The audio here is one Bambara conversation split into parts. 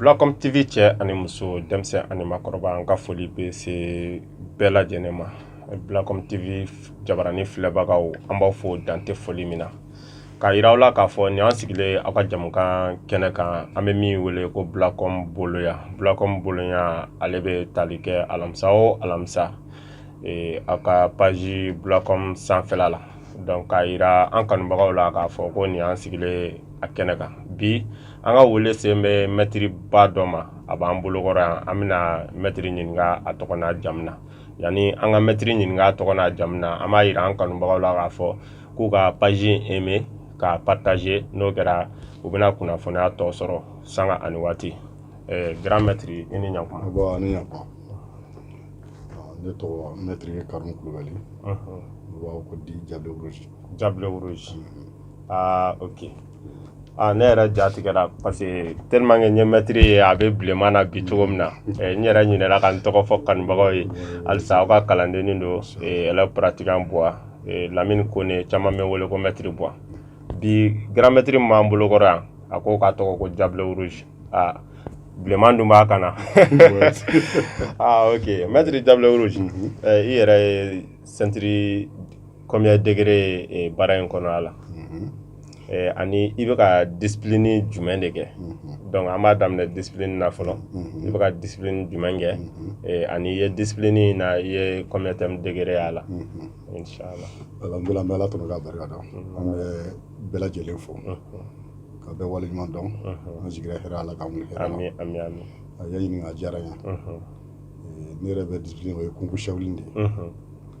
Blacom TV cɛ ani muso denmisɛnnin ani makɔrɔba an ka foli bɛ se bɛɛ lajɛlen ma Blacom TV jabaranin filɛbagaw an b'aw fo dan tɛ foli min na k'a jira aw la k'a fɔ nin an sigilen aw ka jɛmukan kɛnɛ kan an bɛ min wele ko Blacom boloya Blacom boloya ale bɛ tali kɛ alamisa o alamisa a ka paji Blacom sanfɛ la k'a jira an kanubagaw la k'a fɔ ko nin an sigilen a kɛnɛ kan bi an ka wele sen bɛ mɛtiriba dɔ ma a b'an bolokɔrɔ yan an bɛna mɛtiri ɲininka a tɔgɔ n'a jamu na yanni an ka mɛtiri ɲininka a tɔgɔ n'a jamu na an b'a jira an kanubagaw la k'a fɔ k'u ka paji eme k'a pataze n'o kɛra u bɛna kunnafoniya tɔ sɔrɔ sanga ani waati ɛɛ grand mɛtiri i ni ɲakuma bɔn ani ɲakuma ne tɔgɔ mɛtiri ye karimu kulubali u b'a fɔ ko Diable Rouge Diable Rouge aa ok Aa ne yɛrɛ ja tigɛra parce que tellement que n ye mɛtiri ye a bɛ bilenman na bi cogo min na n yɛrɛ ɲinɛna ka n tɔgɔ fɔ kanubagaw ye halisa aw ka kalandennin don élève pratiquant Buwa Lamini Kone caman bɛ n wele ko mɛtiri Buwa bi grand mɛtiri min b'an bolokɔrɔ yan a ko k'a tɔgɔ ko Diable Rouge aa bilenman dun b'a kan na aa ok mɛtiri Diable Rouge i yɛrɛ ye sentiri Kɔmi degegɛrɛ baara in kɔnɔ a la ani i bɛ ka di ni jumɛn de kɛ dɔnku an b'a daminɛ di na fɔlɔ i bɛ ka di jumɛn kɛ ani i ye di na i ye degegɛrɛ a la ala tun ka barika dɔn an bɛ bɛɛ lajɛlen fɔ ka bɛ wale ɲɔgɔn dɔn an sigi ala la ka a ye ɲininka diyara ye ne yɛrɛ bɛ di ye kunkushɛli de ye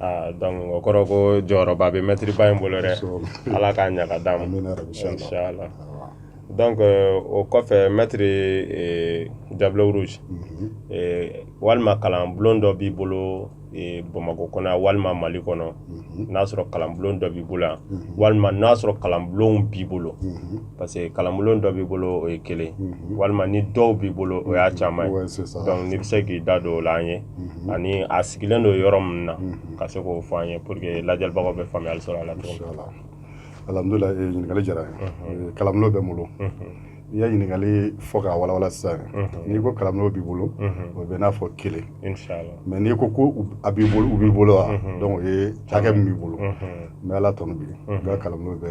aa donc o kɔrɔ ko jɔyɔrɔba bɛ mɛtiri ba in bolo dɛ ala k'a ɲa ka d'a ma inshallah donc o kɔfɛ mɛtiri Diable Rouge walima kalanbulon dɔ b'i bolo bamakɔ kɔnɔ yan walima mali kɔnɔ n'a sɔrɔ kalanbulon dɔ b'i bolo yan walima n'a sɔrɔ kalanbulonw b'i bolo parce que kalanbulon dɔ b'i bolo o ye kelen mhm. walima ni dɔw b'i bolo o ye mhm. caman ye donc n'i bɛ se k'i da don o la an ye mhm. ani a sigilen don yɔrɔ min na ka se k'o fɔ an ye pour que lajɛlibagaw bɛ faamuyali sɔrɔ a la cogo min na. alhamudulila eh, ɲininkali diyara eh, kalanbulon bɛ n bolo i ye ɲininkali fɔ k'a walawala sisan n'i ko kalanbulon b'i bolo o b'i n'a fɔ kelen mais n'i ko ko a b'i bolo u b'i bolo wa donc o ye hakɛ min b'i bolo n bɛ ala tanu bi n ka kalanbulon bɛ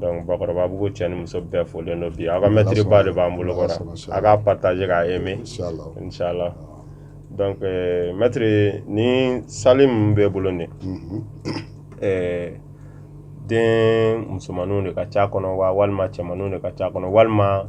dɔnku bakɔrɔbabugu cɛ ni muso bɛɛ folen don bi aw ka mɛtiriba de b'an bolo kɔrɔ a k'a partager k'a aimer inshallah donc mɛtiri nin sali min b'i bolo nin ɛɛ den musomaninw de ka ca kɔnɔ wa walima cɛmaninw de ka ca kɔnɔ walima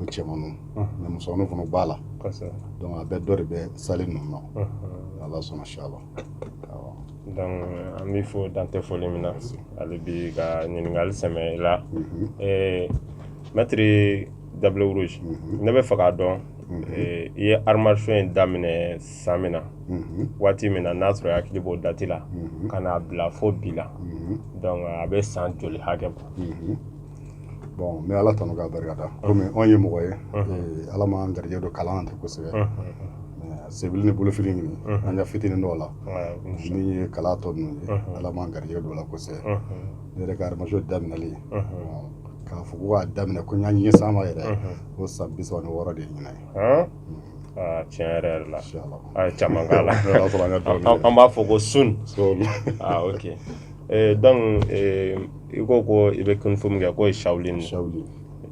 o cɛmanninw musomannin fana b'a la dɔnku a bɛɛ dɔ de bɛ sali ninnu na ala sɔnna si la an b'i fo dan tɛ foli min na hali bi ka ɲininkali sɛmɛ i la mɛtiri dabilenuru ne b'a fɛ k'a dɔn i ye arts martiaux daminɛ san min na waati min na n'a sɔrɔ i hakili b'o dati la ka n'a bila fo bi la donc a bɛ san joli hakɛ bɔ bon n bɛ ala tanu k'a barikada komi anw ye mɔgɔ ye eh, ala m'an garijɛ don kalan na ten kosɛbɛ senfili ni bolofili ɲini an ka fitinin dɔn o la min ye kalan tɔ ninnu ye ala m'an garijɛ don o la kosɛbɛ ne yɛrɛ ka arts martiaux daminɛli k'a fɔ ko k'a daminɛ ko n ye n ɲɛsin a ma yɛrɛ o san bi saba ni wɔɔrɔ de ye ɲinan ye ah, tiɲɛ yɛrɛ yɛrɛ la a ye caman k'a la an b'a fɔ ko sun ah, ok Eh, donc eh, i ko ko i bɛ kunfo min kɛ k'o ye shaolin de ye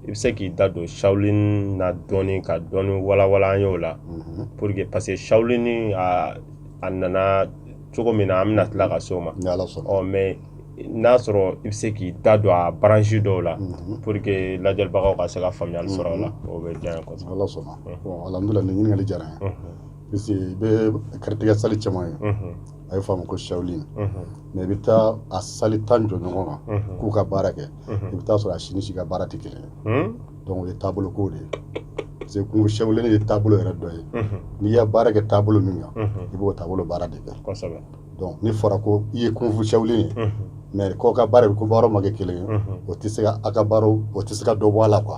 i bɛ se k'i da don shaolin na dɔɔni ka dɔɔni walawala an ye o la mhm. pour que parce que shaolin a a nana cogo min na an bɛna tila ka se o ma ɔ mais n'a sɔrɔ i bɛ se k'i da don a branche dɔw la mhm. pour que lajɛlibagaw ka se ka faamuyali sɔrɔ o la mhm. o bɛ diya n ye kosɛbɛ. N'Ala sɔnna bon alhamdulilayi nin ɲininkali diyara n ye. Parce i bɛ karate sali caman ye a ye fa ko sali mɛ i bɛ taa a sali tan jɔ ɲɔgɔn kan k'u ka baara kɛ i bɛ taa sɔrɔ a si ni si ka baara tɛ kelen dɔnku o ye taabolo ko de ye parce que kunfu ye taabolo yɛrɛ dɔ ye n'i ye baara kɛ taabolo min kan i b'o taabolo baara de kɛ n'a fɔra ko i ye kunfu sa ye mɛ kɔ ka baara ko baara ma kɛ kelen ye o tɛ se ka a ka o tɛ se ka dɔ bɔ a la qu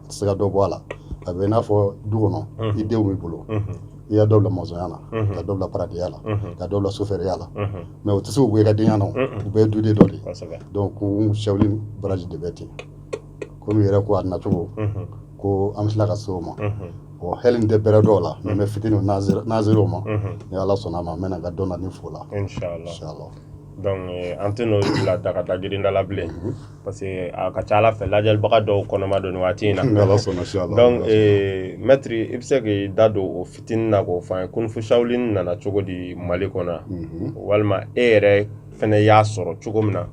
se ka dɔ bɔ a la a bɛ i n'a fɔ du kɔnɔ i denw b'i bolo i y'a dɔw la masɔnya la ka dɔw la baaradenya la ka dɔw la sofɛriya la mɛ o tɛ se k'u bɔ i ka denya na u bɛɛ duden dɔ de donc kunfu shaolin branche de bɛ ten komi i yɛrɛ ko a nacogo ko an bɛ tila ka se o ma o hali n tɛ bɛrɛ dɔn a la mɛ mɛ fitini nazere o ma ni ala sɔnna a ma n bɛna ka dɔn na ni fɔ a la inshallah dɔnku an tɛ n'o bila daga da jiri da la bilen parce que a ka ca a la fɛ lajɛlibaga dɔw kɔnɔma don waati in na mɛtiri i bɛ se k'i da don o fitinin na k'o fɔ an ye kunfu shaolin nana cogo di mali kɔnɔ yan walima e yɛrɛ fana y'a sɔrɔ cogo min na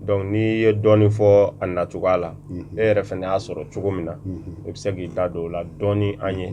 dɔnku n'i ye dɔɔnin fɔ a nacogoya la e yɛrɛ fana y'a sɔrɔ cogo min na i bɛ se k'i da don o la dɔɔnin an ye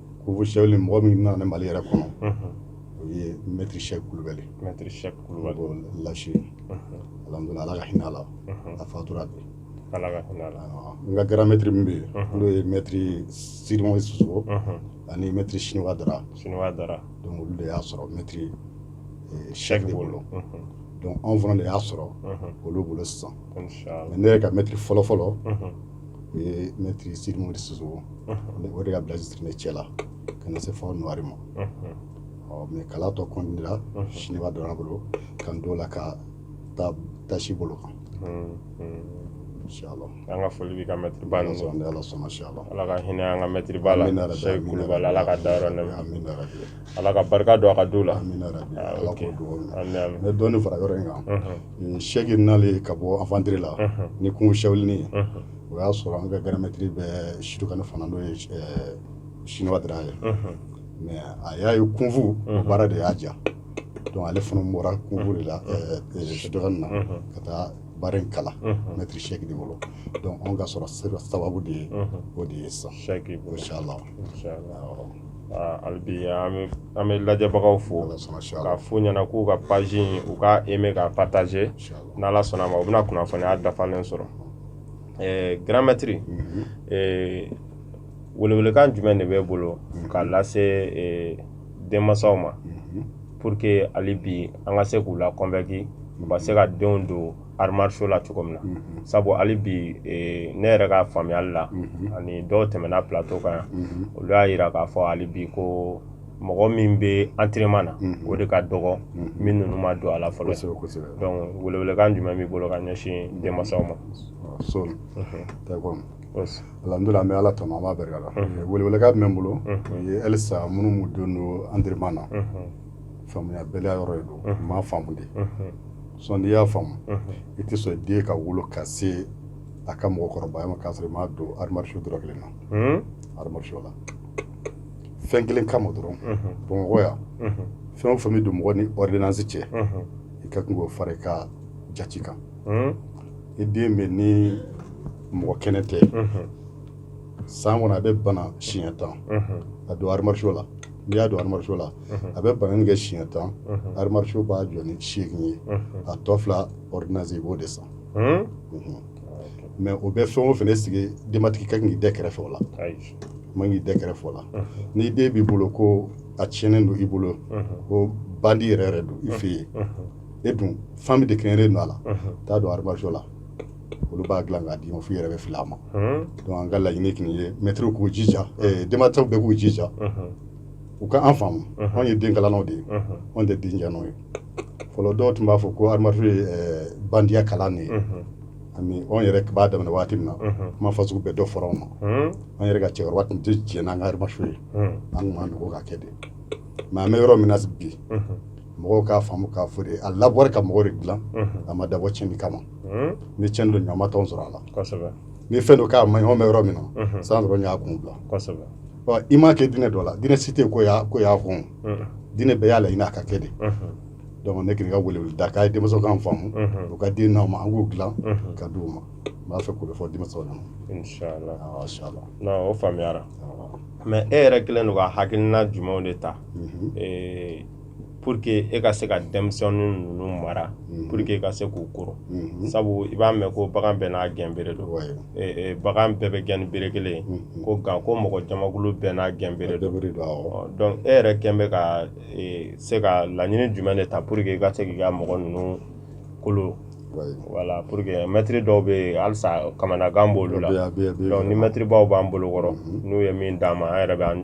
kunfu sawulini mɔgɔ min nana n'a ye mali yɛrɛ kɔnɔ o ye mɛtiri sɛki kulubali lasi ala ala ka hinɛ a la a fatura bi n ka gran mɛtiri min bɛ yen n'o ye mɛtiri sirimo soso ani mɛtiri siniwa dara siniwa dara donc olu de y'a sɔrɔ mɛtiri sɛki de bolo donc anw fana de y'a sɔrɔ olu bolo sisan ne yɛrɛ ka mɛtiri fɔlɔfɔlɔ o ye mɛtiri sirimu de soso o de ka bilan siri ne cɛ la ka na se fo nuwari ma mɛ kalan tɔ kɔndira siniwa dara bolo ka don la ka taa tasi bolo kan an ka foli bɛ ka mɛtiri ba ala sɔnna ala ka hinɛ an ka mɛtiri la ala k'a dayɔrɔ ala ka barika don a ka du la ne dɔɔnin fara yɔrɔ in kan sɛki nali ka bɔ afantiri la ni kunfu sawulini o y'a sɔrɔ an ka gran mɛtiri bɛ sudukani fana n'o ye siniwa dara ye mɛ a y'a ye kunfu baara de y'a ja donc ale fana bɔra kunfu de la sudukani na ka taa baara in kalan mɛtiri sɛki de bolo donc anw ka sɔrɔ sababu de ye o de ye sisan inshallah hali bi an bɛ lajɛbagaw fo k'a fɔ u ɲɛna k'u ka page in u ka aimer ka partager n'ala sɔnna a ma u bɛna kunnafoniw dafalen sɔrɔ gran mɛtiri welewelekan jumɛn de b'i bolo ka lase denmasaw ma pour que hali bi an ka se k'u la kɔnvɛnki u ka se ka denw don arts martiaux la cogo min na sabu hali bi eh, ne yɛrɛ ka faamuyali la ani dɔw tɛmɛna plato kan yan olu y'a jira k'a fɔ hali bi ko mɔgɔ min bɛ antrenema na o de ka dɔgɔ ni minnu ma don a la fɔlɔ donc welewelekan jumɛn b'i bolo ka ɲɛsin denmasaw ma alhamdulilah an bɛ ala tanu an b'a barika da welewelekan min bɛ n bolo o ye halisa minnu don don antrenema na faamuyabaliya yɔrɔ de don u m'a faamu de sinon n'i y'a faamu i tɛ sɔn i den ka wolo ka se a ka mɔgɔkɔrɔbaya ma k'a sɔrɔ i m'a don arts martiaux dɔrɔn kelen na arts martiaux la fɛn kelen kama dɔrɔn bamakɔ yan fɛn o fɛn bɛ don mɔgɔ ni ordonnance cɛ i ka tun'o fara i ka jate kan i den bɛ ni mɔgɔ kɛnɛ tɛ san kɔnɔ a bɛ bana siɲɛ tan a don arts martiaux la n'i y'a don arts martiaux la a bɛ bana kɛ siɲɛ tan arts martiaux b'a jɔ ni seegin ye a tɔ fila ze b'o de san mɛ o bɛ fɛn o fana sigi denbatigi ka k'i da kɛrɛfɛ o la man k'i da kɛrɛfɛ la ni den b'i bolo ko a tiɲɛnen don i bolo ko bandi yɛrɛ yɛrɛ don i fɛ yen e dun fan bɛɛ de kɛɲɛnlen don a la taa a don arts martiaux la olu b'a dilan k'a d'i ma f'u yɛrɛ bɛ fili a ma donc an ka laɲini tun ye mɛtiriw k'u jija denmansaw bɛɛ k'u jija u ka an faamu anw ye den kalannaw de ye anw tɛ den cɛnnaw ye fɔlɔ dɔw tun b'a fɔ ko arts martiaux ye bandiya kalan de ye ani anw yɛrɛ b'a daminɛ waati min na kuma fasugu bɛɛ dɔ fɔra anw ma an yɛrɛ ka cɛkɔrɔba tun tɛ jɛn n'an ka arts martiaux ye an tun b'an dogo k'a kɛ de mɛ an bɛ yɔrɔ min na bi mɔgɔw k'a faamu k'a fɔ de a dabɔra ka mɔgɔ de dilan a ma dabɔ cɛnni kama ni cɛn don ɲama tɔn sɔrɔ a la ni fɛn don k'a ma ɲɔgɔn bɛ yɔrɔ min na san dɔrɔn y'a kun bila i m'a kɛ diinɛ dɔ la diinɛ si tɛ ko y'a ko y'a kɔn diinɛ bɛɛ y'a laɲini k'a kɛ de donc ne kɔni ka wele da k'a ye denmasaw k'an faamu u ka den n'an ma an k'u dilan ka di u ma n b'a fɛ k'o fɔ denmasaw ɲɛna o faamuyara mɛ e yɛrɛ kelen don ka hakilina jumɛnw de ta pour que e ka se ka denmisɛnnin ninnu mara mm. pour que e ka se k'u kolo mm-hmm. sabu i b'a mɛn ko bagan bɛɛ n'a gɛn bere don bagan bɛɛ bɛ gɛn ni bere kelen mm-hmm. ko nka ko mɔgɔ jamakulu bɛɛ n'a gɛn bere don donc e yɛrɛ kelen bɛ ka e, se ka laɲini jumɛn de ta pour que i ka se k'i ka mɔgɔ ninnu kolo wala pour que mɛtiri dɔw bɛ yen halisa kamanagan b'olu la donc ni mɛtiribaw b'an bolo kɔrɔ mm-hmm. n'u ye min d'an ma an yɛrɛ bɛ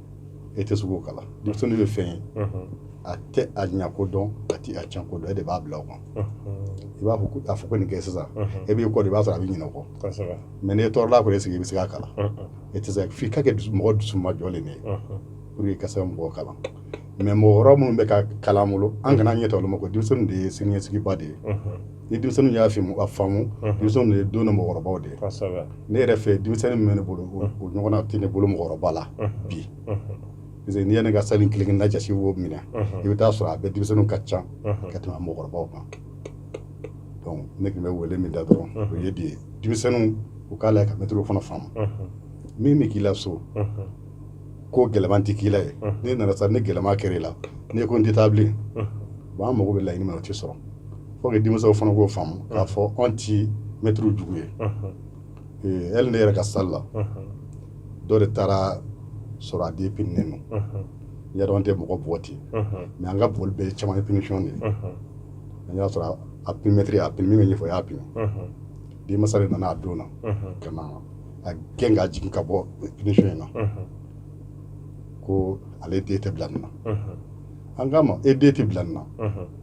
e tɛ se k'o kalan denmisɛnnin bɛ fɛn ye a tɛ a ɲɛ ko dɔn a tɛ a tiɲɛ ko dɔn e de b'a bila o kan i b'a fɔ ko a fɔ ko nin kɛ sisan e b'i kɔ di i b'a sɔrɔ a bɛ ɲinɛ o kɔ mɛ n'i ye tɔɔrɔla kɔni sigi i bɛ se k'a kalan e tɛ se f'i ka kɛ mɔgɔ dusu majɔlen de ye pour que ka se ka mɔgɔ kalan mɛ mɔgɔ wɛrɛ minnu bɛ ka kalan bolo an kana ɲɛ ta olu ma ko denmisɛnnin de ye siniɲɛsigiba de ye ni denmisɛnninw y'a faamu a faamu denmisɛnninw ye don na mɔgɔkɔrɔbaw de ye ne yɛrɛ fɛ denmisɛnnin min bɛ ne bolo o ɲɔgɔnna tɛ ne bolo mɔgɔkɔrɔba la bi parce que n'i ye ne ka salle kelen na jasi wo minɛ i bɛ t'a sɔrɔ a bɛ denmisɛnninw ka ca ka tɛmɛ mɔgɔkɔrɔbaw kan donc ne tun bɛ wele min da dɔrɔn o ye bi ye denmisɛnninw u k'a la ka mɛtiriw fana faamu min bɛ k'i la so ko gɛlɛman tɛ k'i la ye n'i nana sa ni gɛlɛman kɛra i la n'i ko n tɛ taa bilen bon an mago bɛ laɲini min na o tɛ sɔrɔ faut que denmisɛnw fana k'o faamu k'a fɔ anw tɛ mɛtiriw jugu ye ee hali ne yɛrɛ ka salle la dɔ de taara a sɔrɔ a den pininen don n y'a dɔn an tɛ mɔgɔ bugɔ ten mɛ an ka bugɔli bɛɛ ye caman ye punition de ye an y'a sɔrɔ a pini mɛtiri a pini min bɛ ɲɛfɛ o y'a pini denmasa de nana a don na ka na a den ka jigin ka bɔ punition in na ko ale den tɛ bila nin na an k'a ma e den tɛ bila nin na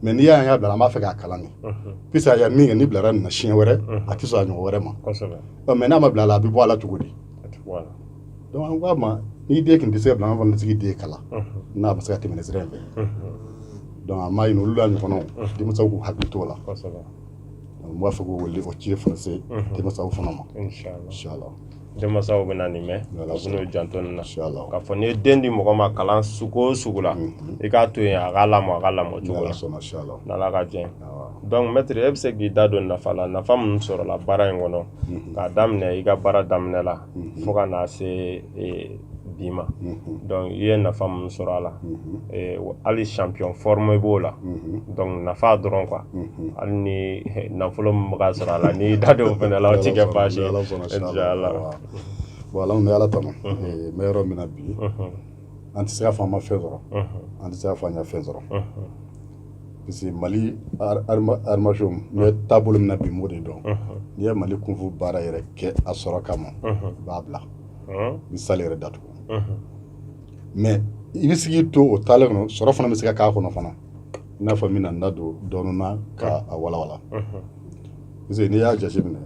mɛ n'i y'a ye y'a bila an b'a fɛ k'a kalan de puisque a ye min kɛ n'a bilara nin na siɲɛ wɛrɛ a tɛ sɔn a ɲɔgɔn wɛrɛ ma mɛ n'a ma bila a la a bɛ bɔ a la cogo di donc an k'a ma n'i den tun tɛ se ka bila an fana tɛ se k'i den kalan n'a tɛ se ka tɛmɛ sira in fɛ donc an b'a ɲini olu la ɲɔgɔnnaw denmisɛnw k'u hakili t'o la N b'a fɛ k'o wele o ci français unhun denmasaw fana ma inchallah inchallah denmasaw bɛna nin mɛ n'Ala sɔnna u bɛn'u janto nin na inchallah k'a fɔ n'i ye den di mɔgɔ ma kalan sugu o sugu la unhun i k'a to yen a k'a lamɔ a ka lamɔ cogo la n'Ala sɔnna inchallah n'Ala ka diɲɛ ye awɔ donc maître i bɛ se k'i da don nafa la nafa minnu sɔrɔla baara in kɔnɔ unhun k'a daminɛ i ka baara daminɛ la mhm. fo ka na se e, bi ma mhm. donc i ye nafa minnu sɔrɔ a la mhm. e, hali champion forme b'o la donc nafa dɔrɔn quoi hali ni nafolo min bɛ ka sɔrɔ a la n'i da don o fana la o tɛ kɛ baasi ye bon an bɛ ala tanu n bɛ yɔrɔ min na bi an tɛ se k'a fɔ an ma fɛn sɔrɔ an tɛ se k'a fɔ an ka fɛn sɔrɔ parce que mali arts martiaux in ye taabolo min na bi mun de don n'i ye mali kung-fu baara yɛrɛ kɛ a sɔrɔ kama i b'a bila ni salle yɛrɛ datugu mais i bɛ se ka to o taalen kɔnɔ sɔrɔ fana bɛ se ka kɛ a kɔnɔ fana i n'a fɔ min na n da don dɔɔnin na k'a walawala parce que n'i y'a jateminɛ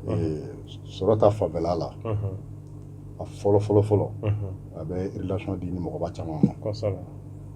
sɔrɔ ta fanfɛla la a fɔlɔ fɔlɔ fɔlɔ a bɛ relation di ni mɔgɔba caman ma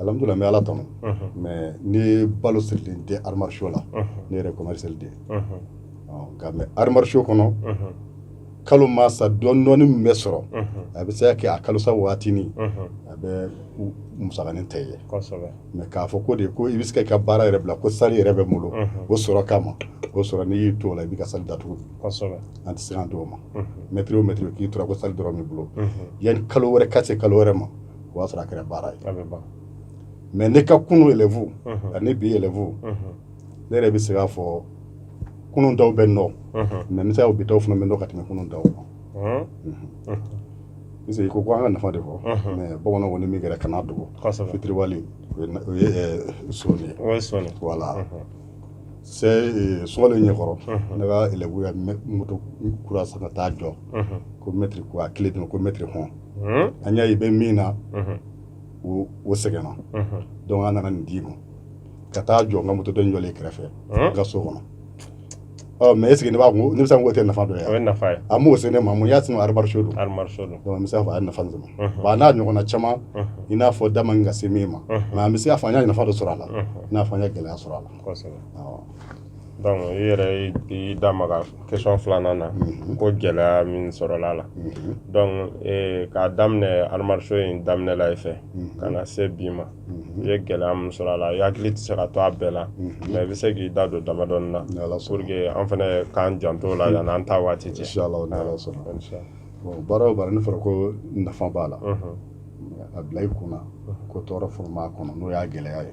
Alhamdulillah n bɛ ala tanu mais ne ye balo siri tɛ arts martiaux la ne yɛrɛ commercial de nka mais arts martiaux kɔnɔ kalo mana sa dɔɔnin dɔɔnin min bɛ sɔrɔ a bɛ se kɛ a kalosa waati min a bɛ muin tɛ ye mais k'a fɔ ko de ko i bɛ se ka baara yɛrɛ bila ko salle yɛrɛ b'i bolo o sɔrɔ kama o sɔrɔ n'i y'i to o la i b'i ka salle datugu an tɛ se an tɔgɔ ma maître maître k'i tora ko salle dɔrɔn bolo yan kalo wɛrɛ ka se kalo wɛrɛ ma o y'a sɔrɔ a kɛra baara ye mais ne ka kunun élèves ani bi élèves ne yɛrɛ bɛ se k'a fɔ kunun taw bɛ nɔ mais bɛ se bi taw fana bɛ ka tɛmɛ kunun taw kan parce que ko ko an ka nafa de fɔ mais bamanan kɔni min kɛra kana dogo fitiriwale o ye sɔni wala sɛ sɔgɔli ɲɛkɔrɔ ne ka élève moto kura san ka taa jɔ ko maître ko a clé don ko maître hɔn an y'a ye i bɛ min na o sɛgɛnna donc an nana nin d'i ma ka taa jɔ n ka moto jɔlen kɛrɛfɛ n ka so kɔnɔ mais est-ce que i b'a k'o tɛ nafa dɔ ye a b'o sen ne ma mun y'a sɔrɔ arts martiaux don mais a nafa a n'a ɲɔgɔn caman i n'a fɔ da ka se min ma nka an bɛ se k'a fɔ an ye nafa dɔ sɔrɔ a la n'a fɔ an ye gɛlɛya sɔrɔ a la i yɛrɛ y'i da maga question filanan na ko gɛlɛya min sɔrɔla a la donc k'a daminɛ arts martiaux in daminɛ la i fɛ ka na se bi ma i ye gɛlɛya min sɔrɔ a la i hakili tɛ se ka to a bɛɛ la mais i bɛ se k'i da don dama dɔɔnin na pour que an fana k'an janto a la yan an taa waati cɛ baara o baara n'a fɔra ko nafa b'a la a bila i kun na ko tɔɔrɔ furu b'a kɔnɔ n'o y'a gɛlɛya ye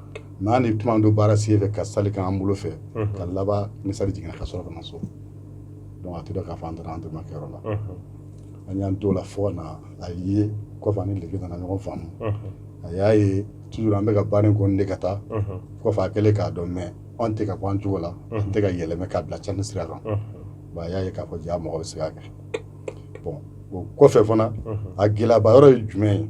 mɛ ni tuma don baara sen fɛ ka sali ka an bolo fɛ ka laban ni sali jiginna ka sɔrɔ ka na so donc a tora ka fan taara entraînement kɛyɔrɔ la an y'an to la fo na a ye kɔfɛ ni lege nana ɲɔgɔn faamu a y'a ye tu an bɛka ka baara in kɔni de ka taa kɔfɛ a kɛlen k'a dɔn mɛ an tɛ ka bɔ an cogo la an tɛ ka yɛlɛmɛ k'a bila ca ni sira kan a y'a ye k'a fɔ ja mɔgɔ bɛ se kɛ bon o kɔfɛ fana a gɛlɛyaba yɔrɔ ye jumɛn ye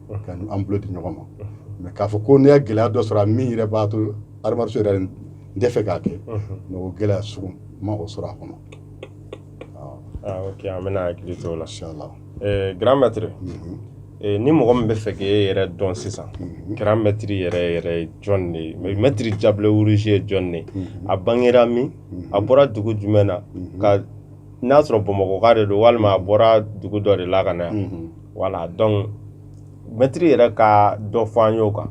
ka an bolo di ɲɔgɔn ma mɛ k'a fɔ ko ne ye gɛlɛya dɔ sɔrɔ a min yɛrɛ b'a to arts martiaux yɛrɛ n t'a fɛ k'a kɛ mɛ o gɛlɛya sugu ma o sɔrɔ a kɔnɔ ok an bɛna hakili to o la grand maître ni mɔgɔ min bɛ fɛ k'e yɛrɛ dɔn sisan grand maître yɛrɛ yɛrɛ ye jɔn de ye mais maître diable rouge ye jɔn de ye a bangera min a bɔra dugu jumɛn na ka n'a sɔrɔ bamakɔka de don walima a bɔra dugu dɔ de la ka na yan voilà donc mɛtiri yɛrɛ ka dɔ fɔ an y'o kan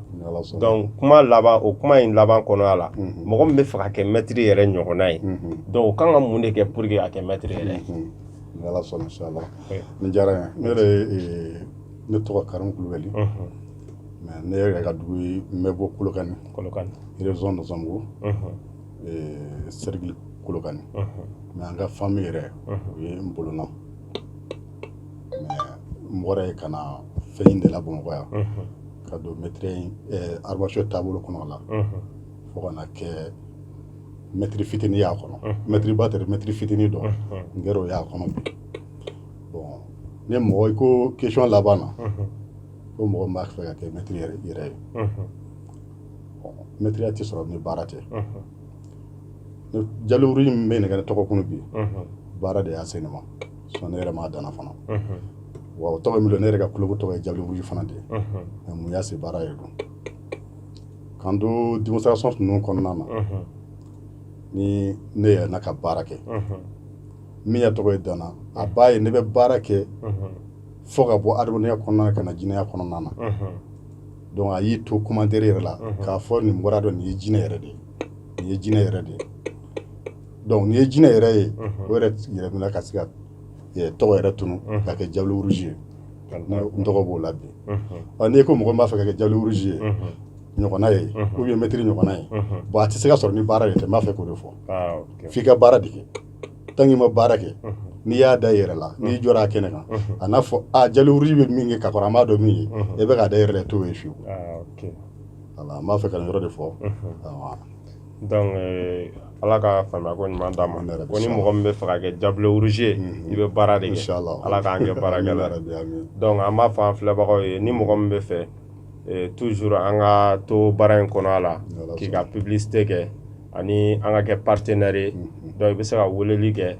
donc kuma laban o kuma in laban kɔnɔya la mhm. mɔgɔ min bɛ fɛ ka kɛ mɛtiri yɛrɛ ɲɔgɔnna ye mhm. donc o kan ka mun de kɛ pour que a kɛ mɛtiri yɛrɛ mhm. ni ala sɔnna insha Allah nin diyara n ye ne yɛrɛ eh, ne tɔgɔ karimu kulubali mɛ ne yɛrɛ ka dugu ye n bɛ bɔ kolokani kolokani région de zango eh, cercle kolokani mɛ an ka famille yɛrɛ o ye n bolona Mɔgɔ ye ka na fɛn ɲini de la bamakɔ yan ka don arts martiaux taabolo kɔnɔ la fo ka na kɛ mɛtiri fitinin y'a kɔnɔ mɛtiriba tɛ mɛtiri fitinin don n kɛra o y'a kɔnɔ bon ni mɔgɔ i ko question laban na ko mɔgɔ b'a fɛ ka kɛ mɛtiri yɛrɛ ye mɛtiriya tɛ sɔrɔ ni baara tɛ diable rouge min bɛ ne ka tɔgɔ kun bi baara de y'a se ne ma ne yɛrɛ m'a da ne na fana wa o tɔgɔ min ne yɛrɛ ka kulu tɔgɔ ye ja fana de ye mun y'a se baara ye donc k'an don démonstration ninnu kɔnɔna na ni ne yɛrɛ na ka baara kɛ min ye tɔgɔ yɛrɛ da ne na a ba ye ne bɛ baara kɛ fo ka bɔ adamadenya kɔnɔna ka na jinɛya kɔnɔna na donc a y'i to commentaire yɛrɛ la k'a fɔ nin bɔra donc nin ye jinɛ yɛrɛ de ye nin ye jinɛ yɛrɛ de ye donc nin ye jinɛ yɛrɛ ye o yɛrɛ yɛrɛ min ka se ka tɔgɔ yɛrɛ tun ka kɛ diable rouge ye n tɔgɔ b'o la bi ɔ n'i ko mɔgɔ b'a fɛ ka kɛ diable rouge ye ɲɔgɔnna ye k'u ye mɛtiri ɲɔgɔnna ye bon a tɛ se ka sɔrɔ ni baara yɛrɛ tɛ b'a fɛ k'o de fɔ f'i ka baara de kɛ tant qu'i ma baara kɛ n'i y'a da yɛrɛ la n'i jɔra a kɛnɛ kan a n'a fɔ a diable rouge bɛ min kɛ ka kɔrɔ an b'a dɔn min ye e bɛ k'a da yɛrɛ to ye fiyewu wala n b'a fɛ ka yɔrɔ de fɔ eh, ala ka faamuya ko ɲuman d'a ma ko ni mɔgɔ min bɛ fɛ ka kɛ diable rouge ye i bɛ baara de kɛ ala k'an kɛ baarakɛla donc an b'a fɔ an filɛbagaw ye ni mɔgɔ min bɛ fɛ eh, toujours an ka to baara in kɔnɔ wala k'i ka publicité kɛ ani an ka kɛ partenaire ye donc i bɛ se ka weleli kɛ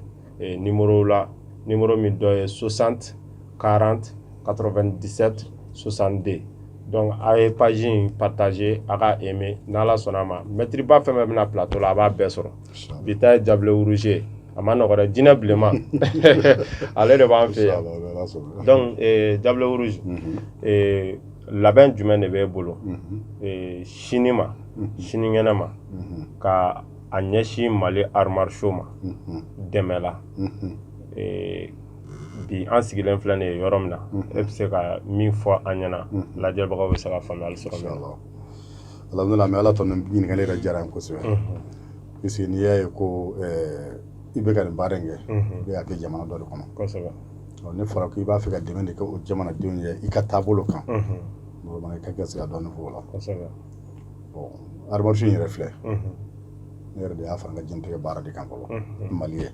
numéro la numéro min dɔ ye 60 40 97 62 donc a ye page in partager a k'a aimer n'Ala sɔnna a ma mɛtiriba fɛn fɛn bɛna plateau la a b'a bɛɛ sɔrɔ bi ta ye diable rouge ye a man nɔgɔ dɛ jinɛ bilenman ale de b'an fɛ yan donc diable rouge labɛn jumɛn de b'e bolo sini ma sinikɛnɛ ma ka a ɲɛsin mali arts martiaux ma dɛmɛ la bi an sigilen filɛ nin ye yɔrɔ min na e bɛ se ka min fɔ an ɲɛna lajɛbagaw bɛ se ka faamuya ala ɲininkali ka diyara kosɛbɛ parce que n'i y'a ye ko i bɛ ka nin baara in kɛ y'a kɛ jamana dɔ de kɔnɔ n'a fɔra ko i b'a fɛ ka dɛmɛ de kɛ o jamanadenw ye i ka taabolo kan ka dɔn fɔ la arts martiaux yɛrɛ filɛ ne yɛrɛ de y'a fara n ka jɛntigɛ baara de kan fɔlɔ mali ye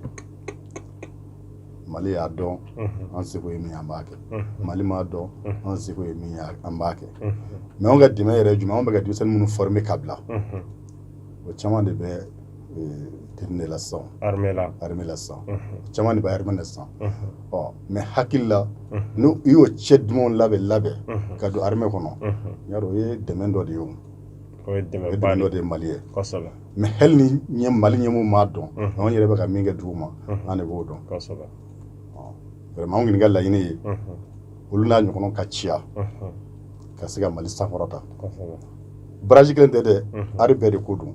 mali y'a dɔn an seko ye min an b'a kɛ mali m'a dɔn an seko ye min an b'a kɛ mais anw ka dɛmɛ yɛrɛ jumɛn anw bɛ ka denmisɛnnin minnu former ka bila o caman de bɛ la sisan la sisan caman de bɛ armée la sisan ɔ ne hakili la n'i ye cɛ dumanw labɛn labɛn ka don armée kɔnɔ yan o ye dɛmɛ dɔ de ye dɔ de ye mali ye mais hali ni ɲɛ mali ɲɛmaaw m'a dɔn anw yɛrɛ bɛ ka min kɛ duguma an de b'o dɔn anw ɲini ka laɲini ye olu n'a ɲɔgɔn ka caya ka se ka mali sankɔrɔta baraji kelen tɛ dɛ art bɛɛ de ko don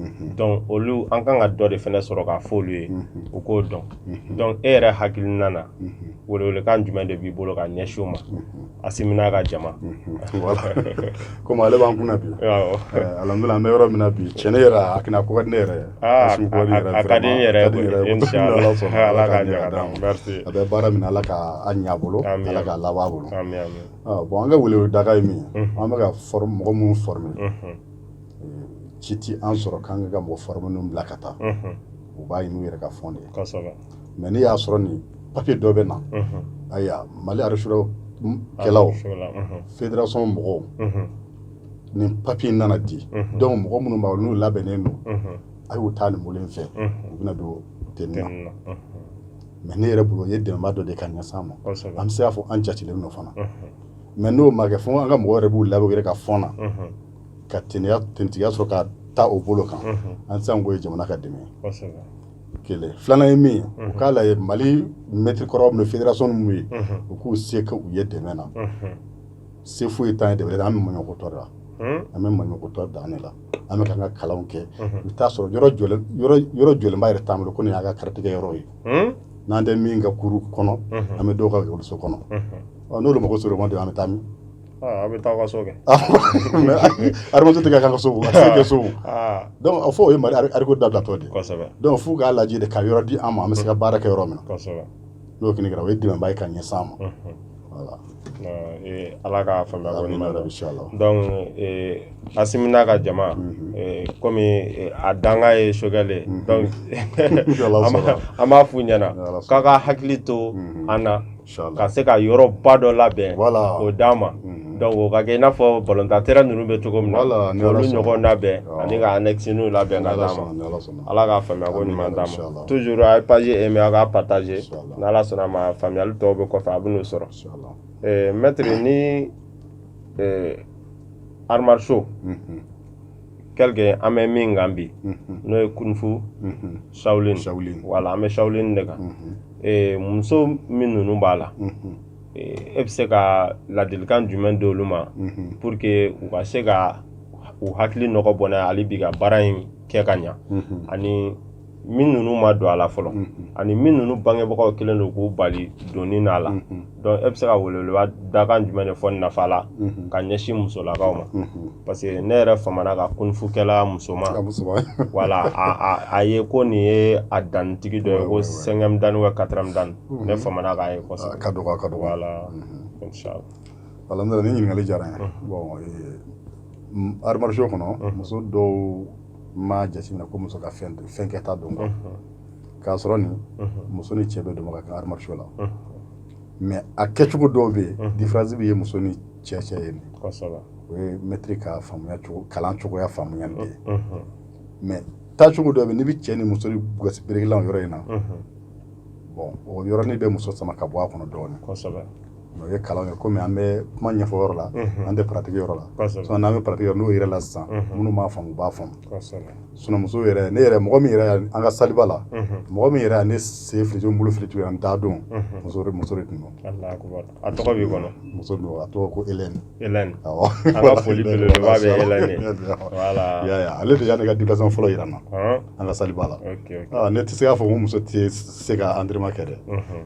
Mhm. Donc olu an ka kan ka dɔ de fana sɔrɔ k'a fɔ olu ye mhm. u k'o dɔn mhm. donc e yɛrɛ hakilina na welewelekan jumɛn de b'i bolo ka ɲɛsin o ma asimi n'a ka jama komi ale b'an kunna bi eh, alhamdulila an bɛ yɔrɔ min na bi cɛn ne yɛrɛ a kɛnɛ ko ka di ne yɛrɛ ye ah, a ka di n yɛrɛ ala ka ɲɛ d'a ma a bɛ baara min ala ka a ɲɛ a bolo ala ka laban a bolo ah, bon an ka weleweleda ye min ye an bɛ ka mɔgɔ minnu former ci tɛ an sɔrɔ k'an ka ka mɔgɔ fari minnu bila ka taa u b'a ɲini yɛrɛ ka fɔn de ye mɛ n'i y'a sɔrɔ ni papi dɔ bɛ na ayiwa mali araro kɛlɛ fedirason mɔgɔw ni papi in nana di dɔnku mɔgɔ minnu b'a n'u labɛnnen don a y'u taa nin bolo in fɛ u bɛna don te na mɛ ne yɛrɛ bolo ye dɛmɛba dɔ de ka ɲɛsin an ma an bɛ se y'a fɔ an jatilen nɔ fana mɛ n'o ma kɛ fo an ka mɔgɔ yɛrɛ b'u labɛn yɛrɛ ka fɔn na ka tigiya sɔrɔ ka taa o bolo kan an sago ye jamana ka dɛmɛ kelen filanan ye min u k'a la mali mɛtiri kɔrɔ bɛ fedirason minnu ye u k'u se ka u ye dɛmɛ na se foyi ye tan de an bɛ mɔtɔ la an bɛ mɔtɔ dan ne la an bɛ ka kalan kɛ u t'a sɔrɔ yɔrɔ jɔlenba yɛrɛ t'an bolo k'o y'an ka karatekɛ yɔrɔ ye n'an tɛ min ka kuru kɔnɔ an bɛ dɔw ka so kɔnɔ n'olu mɔgɔ sɔrɔ ma don an bɛ taa min A bɛ taa ka so kɛ arts martiaux tigɛ ka so kɛ so a fɔ o ye mari ariko dadatɔ de dɔnku fo u k'a lajɛ de ka yɔrɔ di an ma an bɛ se ka baara kɛ yɔrɔ min n'o kɛra o ye dɛmɛba ye ka ɲɛsin an ma ala ka amina ka jama kɔmi a dan ye sokɛkɛ an b'a fɔ u ɲɛna k'a k'a hakili to an na ka se ka yɔrɔba dɔ labɛn k'o d'an ma mhm. donc o ka kɛ i n'a fɔ balontan terrain ninnu bɛ cogo min na olu ɲɔgɔn labɛn ani ka annexiniw labɛn ka d'an ma ala ka faamuya ko ɲuman d'a ma toujours a ye page aimer a k'a partager n'ala sɔnna a ma faamuyali tɔw bɛ kɔfɛ a bɛn'o sɔrɔ eh, maître ni eh, arts martiaux mhm. kɛlɛkɛ an bɛ min kan bi n'o ye kunfu sawulin sawulin wala an bɛ sawulin de kan muso min ninnu b'a la e bɛ se ka ladilikan jumɛn d'olu ma pour que u ka se ka u hakili nɔgɔ bɔnɛ hali bi ka baara in kɛ ka ɲɛ ani min ninnu ma don a la fɔlɔ ani min ninnu bangebagaw kelen don k'u bali donni n'a la donc e bɛ se ka weleweleba dakan jumɛn de fɔ nafa la ka ɲɛsin musolakaw ma parce que ne yɛrɛ famana ka kunfukɛla musoman wala a ye ko nin ye a dantigi dɔ ye ko cinquième dan wa quatrième dan ne famana k'a ye kosɛbɛ ka dɔgɔ ka dɔgɔ wala inshallah wala nin ɲininkali diyara n ye bon arts martiaux kɔnɔ muso dɔw n m'a jateminɛ ko muso ka fɛn fɛn kɛta don quoi unhun, k'a sɔrɔ nin unhun, muso ni cɛ bɛɛ dama ka kan arts martiaux la unhun, mais a kɛcogo dɔw bɛ yen Mhm. différence bɛ yen muso ni cɛ cɛ yen kosɛbɛ o ye mɛtiri ka faamuya cogo kalan cogoya faamuya de ye unhun, mais taacogo dɔ bɛ yen n'i bɛ cɛ ni muso ni gosi berekilan o yɔrɔ in na unhun, bon o yɔrɔnin bɛ muso sama ka bɔ a kɔnɔ dɔɔnin kosɛbɛ o ye kalan ye kɔmi an bɛ kuma ɲɛfɔ yɔrɔ la an tɛ pratique yɔrɔ la n'an bɛ pratique n'o yɛrɛ la sisan minnu b'a fɔ u b'a fɔ sinamuso yɛrɛ ne yɛrɛ mɔgɔ min yɛrɛ an ka saliba la mɔgɔ min yɛrɛ ne sen fili bolo fili tun an da dɔn muso de tun a tɔgɔ b'i kɔnɔ muso don a tɔgɔ ko e ale de ye ne ka di fɔlɔ jira na an ka saliba la ne tɛ se k'a fɔ ko muso tɛ se ka entraînement kɛ dɛ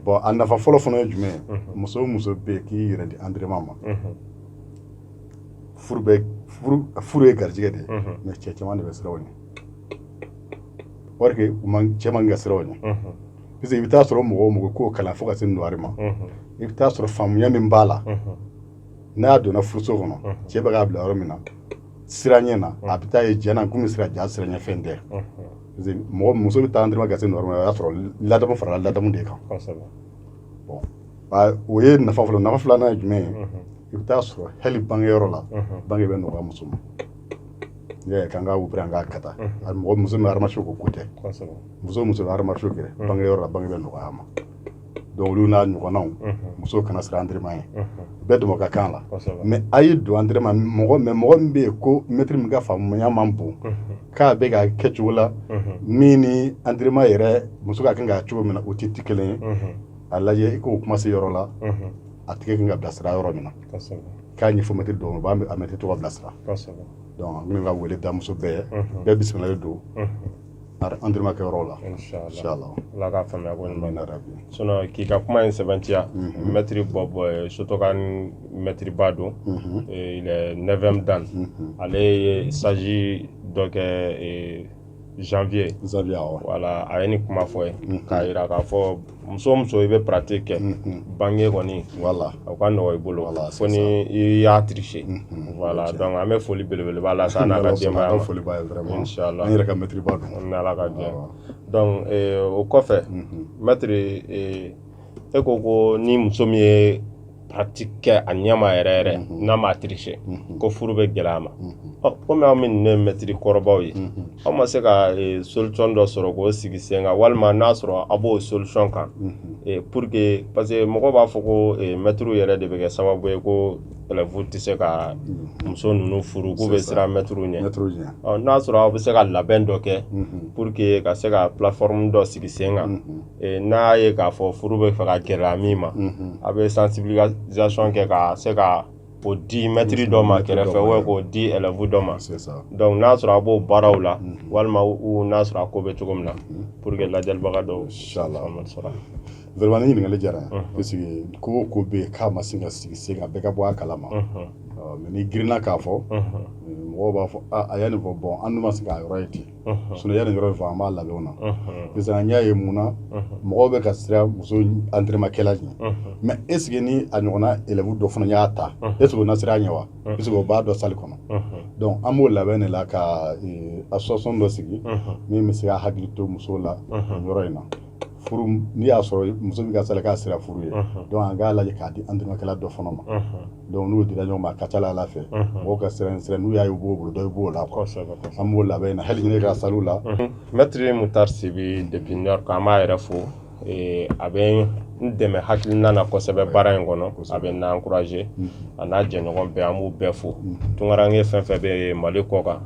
bon a nafa fɔlɔ fana ye jumɛn muso o muso bɛ yen k'i yɛrɛ di entraînement ma furu ye garijɛgɛ de mɛ cɛ caman de bɛ siran u ɲɛ cɛ man ka siran u ɲɛ parce que i bɛ taa a sɔrɔ mɔgɔ o mɔgɔ k'o kalan fo ka se noire ma i bɛ taa a sɔrɔ faamuya min b'a la n'a donna furuso kɔnɔ cɛ bɛ k'a bila yɔrɔ min na siran a ɲɛ na a bɛ taa ye jɛna na komi siran jaa siranɲɛfɛn tɛ mɔgɔ muso bɛ taa dɔrɔn ka se noire o y'a sɔrɔ ladamu farala ladamu de kan o ye nafa fɔlɔ nafa filanan ye jumɛn ye i bɛ taa a sɔrɔ hali bangeyɔrɔ la bange bɛ nɔgɔya muso ma ye kan ka wupere an ka kata a mɔgɔ muso bɛ arts martiaux ko ko tɛ muso o muso bɛ arts martiaux kɛ bangeyɔrɔ la bange bɛ nɔgɔya a ma donc olu n'a ɲɔgɔnnaw muso kana siran entraînement ɲɛ bɛɛ dama ka kan a la mɛ a y'i don entraînement mɔgɔ mɛ mɔgɔ min bɛ yen ko mɛtiri min ka faamuya man bon k'a bɛ ka kɛ cogo la min ni entraînement yɛrɛ muso ka kan ka cogo min na o tɛ ti kelen ye a lajɛ i k'o kuma se yɔrɔ la a tigi kan ka bilasira yɔrɔ min na k'a ɲɛfɔ mɛtiri dɔn b'a a mɛtiri tɔgɔ bilasira donc an bɛ ka wele da muso bɛɛ bɛɛ bisimilalen don entraînement kɛ yɔrɔ la inshallah Allah ka faamuya ko ɲuman na rabi sinon k'i ka kuma in sɛbɛntiya mɛtiri Bob shotokan mɛtiri ba don il est 9e dan ale ye stage dɔ kɛ janvier janvier awɔ voilà a ye nin kuma fɔ yen k'a jira k'a fɔ muso o muso i bɛ pratique kɛ bange kɔni voilà o ka nɔgɔ i bolo voilà fo ni i y'a triché voilà donc an bɛ foli belebele ba la san n'ala jɛma foli la yɛrɛ ka mɛtiriba don n ala ka jɛ donc o kɔfɛ mɛtiri e ko ko ni muso min ye pratique kɛ a ɲɛma yɛrɛ yɛrɛ mhm. n'a ma triché mhm. ko furu bɛ gɛlɛya a ma mhm. komi aw minnu ye mɛtiri kɔrɔbaw ye aw ma se ka e, solisɔn dɔ sɔrɔ k'o sigi sen kan walima n'a sɔrɔ a b'o solisɔn kan e, pour que parce que mɔgɔ b'a fɔ ko e, mɛtiriw yɛrɛ de bɛ kɛ sababu ye ko ɛlɛfu tɛ se ka muso ninnu furu k'u bɛ siran mɛtiriw ɲɛ n'a sɔrɔ aw bɛ se ka labɛn dɔ kɛ pour que ka se ka plateforme dɔ sigi sen kan n'a ye k'a fɔ furu bɛ fɛ ka gɛlɛya min ma a bɛ sensibilisation kɛ ka se ka o di mɛtiri dɔ ma kɛrɛfɛ ou k'o di élève dɔ ma donc n'a sɔrɔ a b'o baaraw la walima ou n'a sɔrɔ a ko bɛ cogo min na pour que lajɛlibaga dɔw faamuyali sɔrɔ a la. Vraiment nin ɲininkali diyara n ye parce que ko o ko bɛ yen k'a ma se ka sigi sen kan bɛɛ ka bɔ a kalama mais n'i girinna k'a fɔ mɔgɔw b'a fɔ a ye nin fɔ bon an dun ma se k'a yɔrɔ ye ten. sinon yani yɔrɔ fɔ an b'a labɛnw na sisan n y'a ye mun na mɔgɔw bɛ ka siran muso antɛrɛmakɛla ɲɛ mais est-ce que ni a ɲɔgɔnna élève dɔ fana y'a ta est-ce que o na siran a ɲɛ wa est-ce que o b'a dɔn sali kɔnɔ donc an b'o labɛn de la ka association dɔ sigi min bɛ se ka hakili to musow la yɔrɔ in na furu n'i y'a sɔrɔ muso bɛ ka sali k'a sira furu ye donc an k'a lajɛ k'a di antɛrɛmakɛla dɔ fana ma donc n'u dira ɲɔgɔn ma a ka ca a la fɛ mɔgɔw ka siran siran n'u y'a ye u b'o bolo don i b'o la an b'o labɛn na hali ne ka saliw la mɛtiri mutar sibi depuis new york an b'a yɛrɛ fo a bɛ n dɛmɛ hakilina na kosɛbɛ baara in kɔnɔ a bɛ n encourager a n'a jɛɲɔgɔn bɛɛ an b'u bɛɛ fo tunkaranke fɛn fɛn bɛ mali kɔkan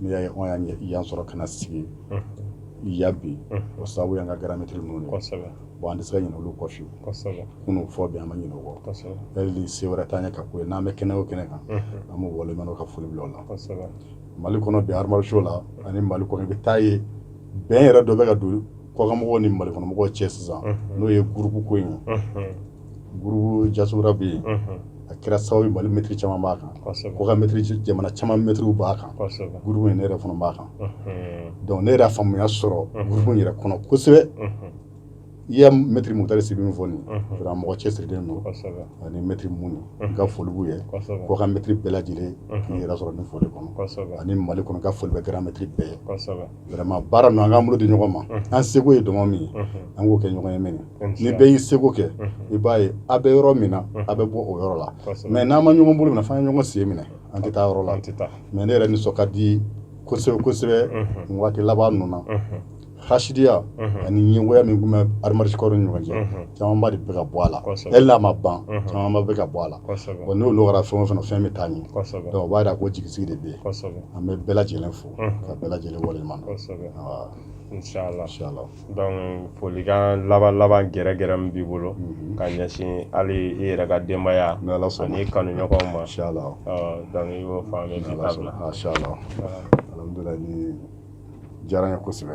N'i y'a ye anw y'an ɲɛ- yan sɔrɔ ka na sigi yan bi o sababu y'an ka grand maître ninnu de ye. kosɛbɛ bon an tɛ se ka ɲinɛ olu kɔ fewu kosɛbɛ minnu fɔ bi an ma ɲinɛ o kɔ kosɛbɛ hali se wɛrɛ t'an ye ka ko ye n'an bɛ kɛnɛ o kɛnɛ kan an b'u waleɲumandɔn ka foli bila o la kosɛbɛ mali kɔnɔ bi arts martiaux la ani mali kɔnɔ i bɛ t'a ye bɛn yɛrɛ dɔ bɛ ka don kɔkanmɔgɔw ni mali kɔnɔmɔgɔw cɛ sisan n'o ye gurupu ko in ye diaspora bɛ yen a kɛra sababu ye mali mɛtiri caman b'a kan kɔkan jamana caman mɛtiriw b'a kan in ne yɛrɛ fana b'a kan donc ne yɛrɛ faamuya sɔrɔ gurupu yɛrɛ kɔnɔ kosɛbɛ i ye mɛtiri mutari sibi min fɔ nin mɔgɔ cɛsiri don ani mɛtiri minnu ka foli b'u ye kɔkan mɛtiri bɛɛ lajɛlen yɛrɛ sɔrɔ nin foli kɔnɔ ani mali kɔnɔ ka foli bɛ grand maître bɛɛ ye vraiment baara ninnu an k'an bolo di ɲɔgɔn ma an seko ye dɔmɔ min ye an k'o kɛ ɲɔgɔn ye maintenant ni bɛɛ y'i seko kɛ i b'a ye a bɛ yɔrɔ min na a bɛ bɔ o yɔrɔ la mais n'an ma ɲɔgɔn bolo minɛ f'an ye ɲɔgɔn sen minɛ an tɛ taa yɔrɔ la mais ne yɛrɛ nisɔn ka di kosɛbɛ kosɛbɛ nin waati laban ninnu na hasidiya ani ɲɛngoya min tun bɛ arts martiaux ni ɲɔgɔn cɛ camanba de bɛ ka bɔ a la hali n'a ma ban camanba bɛ ka bɔ a la n'o nɔgɔyara fɛn o fɛn na fɛn bɛ taa ɲɛ donc o b'a jira ko jigisigi de bɛ yen an bɛ bɛɛ lajɛlen fo ka bɛɛ lajɛlen waleɲumandɔn folikan laban laban kɛrɛnkɛrɛn min b'i bolo ka ɲɛsin hali i yɛrɛ ka denbaya ni kanuɲɔgɔn ma alhamdulillahi nin diyara n ye kosɛbɛ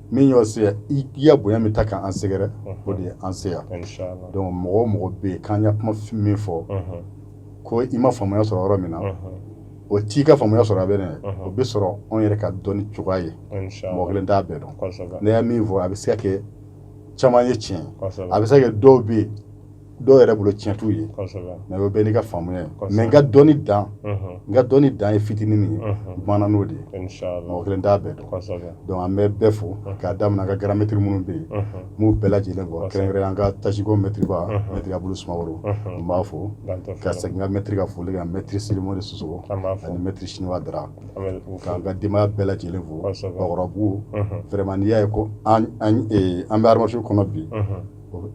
min y'o se i ye bonya min ta k'an sɛgɛrɛ o de ye an se yan donc mɔgɔ o mɔgɔ bɛ yen k'an ka kuma min fɔ ko i ma faamuya sɔrɔ yɔrɔ min na o t'i ka faamuya sɔrɔ a bɛ ne o bɛ sɔrɔ anw yɛrɛ ka dɔnni cogoya ye mɔgɔ kelen t'a bɛɛ dɔn ne ye min fɔ a bɛ se ka kɛ caman ye tiɲɛ a bɛ se ka kɛ dɔw bɛ yen dɔw yɛrɛ bolo tiɲɛ t'u ye mais o bɛɛ n'i ka faamuya ye mais n ka dɔnni dan n ka dɔnni dan ye fitinin min ye bamanan n'o de ye mɔgɔ kelen t'a bɛɛ dɔn donc an bɛ bɛɛ fo k'a daminɛ ka gramɛtiri minnu bɛ yen n b'u bɛɛ lajɛlen fo kɛrɛnkɛrɛn an ka tasiko mɛtiriba mɛtiri abulu sumaworo n b'a fo ka segin ka mɛtiri ka foli ka mɛtiri silimo de sosogo ani mɛtiri siniwa dara k'an ka denbaya bɛɛ lajɛlen fo bakɔrɔbabugu vraiment n'i y'a ye ko an bɛ arts martiaux kɔnɔ bi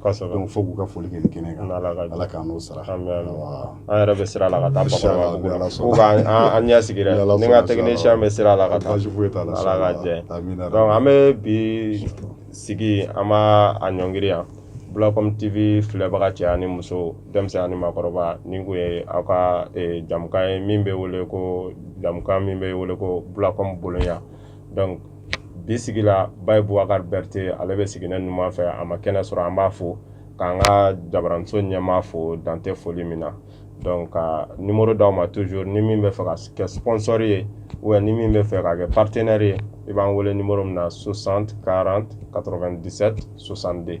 Kosɛbɛ fo k'u ka foli kɛ nin kɛnɛ kan Ala ka jɛn Ala k'an n'o sara aami aami awaa an yɛrɛ bɛ sira la ka taa bakɔrɔbabugu la fo k'an an an ɲɛ sigi dɛ ni Ala ni ŋala sɔnna technicien bɛ sira la ka taa baasi foyi t'a la Ala ka jɛn amiina rabi donc an bɛ bi sigi an b'a a ɲɔngiri yan Bulacom TV filɛbaga cɛ ani muso denmisɛn ani maakɔrɔba nin kun ye aw ka e jɛmukan ye min bɛ wele ko jɛmukan min bɛ wele ko Bulacom boloɲa donc bi sigi la bayi bubakari bɛrite ale bɛ sigi ne numan fɛ a ma kɛnɛ sɔrɔ an b'a fo k'an ka jabaranso ɲɛmaa fo dan tɛ foli min na donc ka nimoro d'aw ma toujours ni min b'a fɛ ka kɛ sponsor ye ou bien ni min b'a fɛ ka kɛ partenaire ye i b'an wele nimoro min na 60 40 97 62